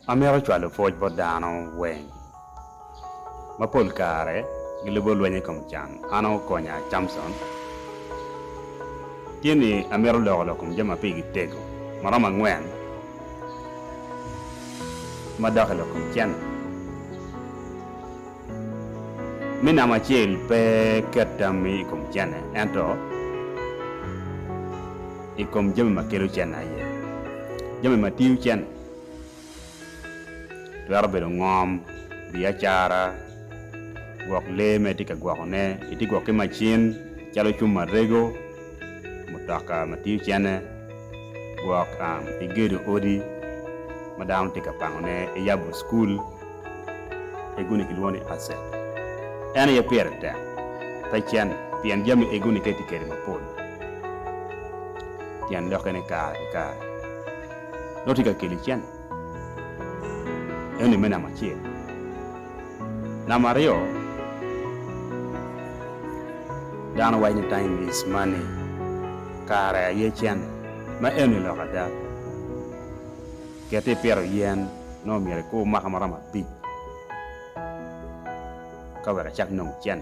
Amito cwalo pwoc bot dano weng. Ma pol kare gilubo lweny i kom can. An okonya Camson. Tye ni amito loko lok kom jami ma pigi tego ma romo angwen ma dok i lok kom cen. Me namba acel pe ket tammi i kom cene ento i kom jami ma kelo cen aye. Jami ma tiyo cen Twero bedo ngom, biacara, gwok lee ma itye ka gwokone, itye ka gwok ki macin calo cuma ma rego, mutoka ma tiyo cene, gwok, igedo odi ma dano tye ka pangone, iyabo cukul, egoni kilwongo ni asset. En aye pire tek, pe cen pien jami egoni ka itye kwede mapol tyen lokke ni kare ki kare. Dok tye ka keli cen. Eno-ni me namba acel. Namba aryo, dano waco ni time is money, kare aye cen. Ma eno-ni lok ada. Kit ni ipito yen, nongo myero ikur mwaka maromo abic ka wek icak nongo cen.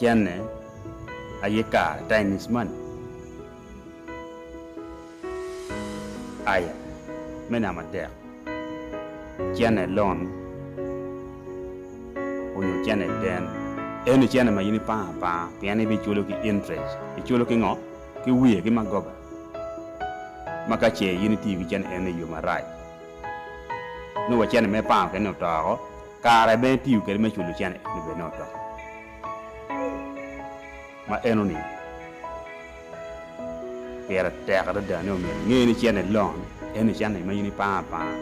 Cene aye kare time is money aya me nama tek cene loan onyo cene ten eni cene ma in ipango apanga pien ibi culo ki interest iculo ki ngo ki wiye ki magoba maka ce in itiyo ki cene eni iyo marac. nongo wa cene mere pango kene oto woko kare bene tiyo kede me culo cene nongo bene oto ma enoni pire tek adada ni omyero inge ni cene loan eni cene ma in ipango apanga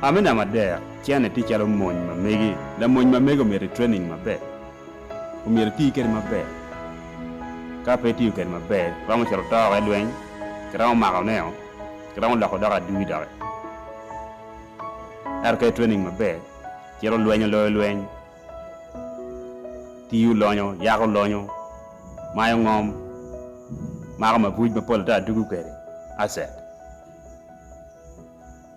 amina madek cene tye calo mony ma megi lamony ma megi omyero i training maber. omyero iti kwede maber. Ka pe itiyo kwede maber, iromo cito to woko i lweny, kiromo mako neo, kiromo loko doko adui doki. Ento ka i-training maber, cito lweny oloyo lweny, tiyo lonyo, yako lonyo, mayo ngom, mako mabuc mapol ata dugo kwede, asset.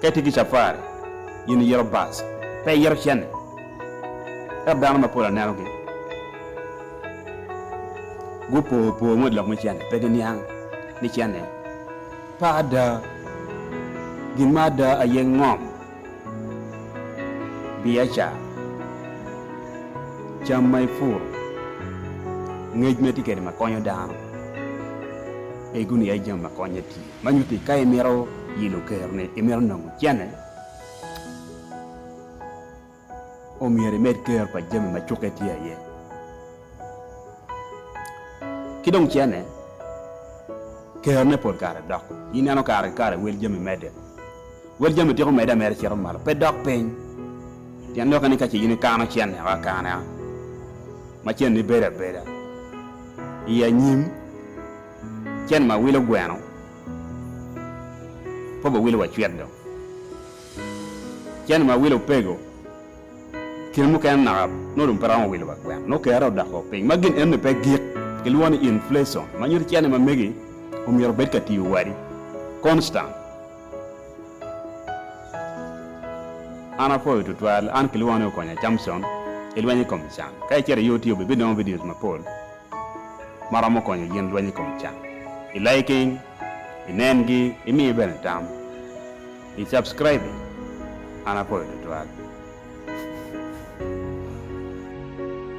Ka itye ki capari, in iyero bus, pe iyero cene. Ento dano mapol anenogi gupo po ngut lok me cene, pe giniang ni cene pe ada. Gin ma ada aye ngom, biacara, cam ma ipuro, ngec ma itye kwede ma konyo dano, pe iguni iye jami ma konye tii. Ma nyutti ka imito yilo kero ni imito nongo cene, omyero imed kero pa jami ma cukke tye aye. Ki dong cene, kero ne pol kare dok. Ineno kare ki kare wel jami medde. Wel jami tika omedde ameda cito malo, pe dok piny. Pien doki ni ka ce in ikano cene o akana, ma ceni bedo abeda, i anyim, Cen ma wilo gweno kop owilo wa cwit dong. Cen ma wilo opego kine mukene naka nongo dong pe romo wilo wa gweno nongo kere odoko piny ma gin enoni pe gik kilwongo ni inflation ma nyuto cene ma megi omyero obed ka tiyo wadi constant. An apoyo tutwal an kilwongo ni Okonya Camson ilweny ikom can ka icito i UTO bibinongo videos mapol ma romo konyo gin lweny i kom can. I liking, i nengi, i miyo bene tam, i subscribing, an apoyo tutwal.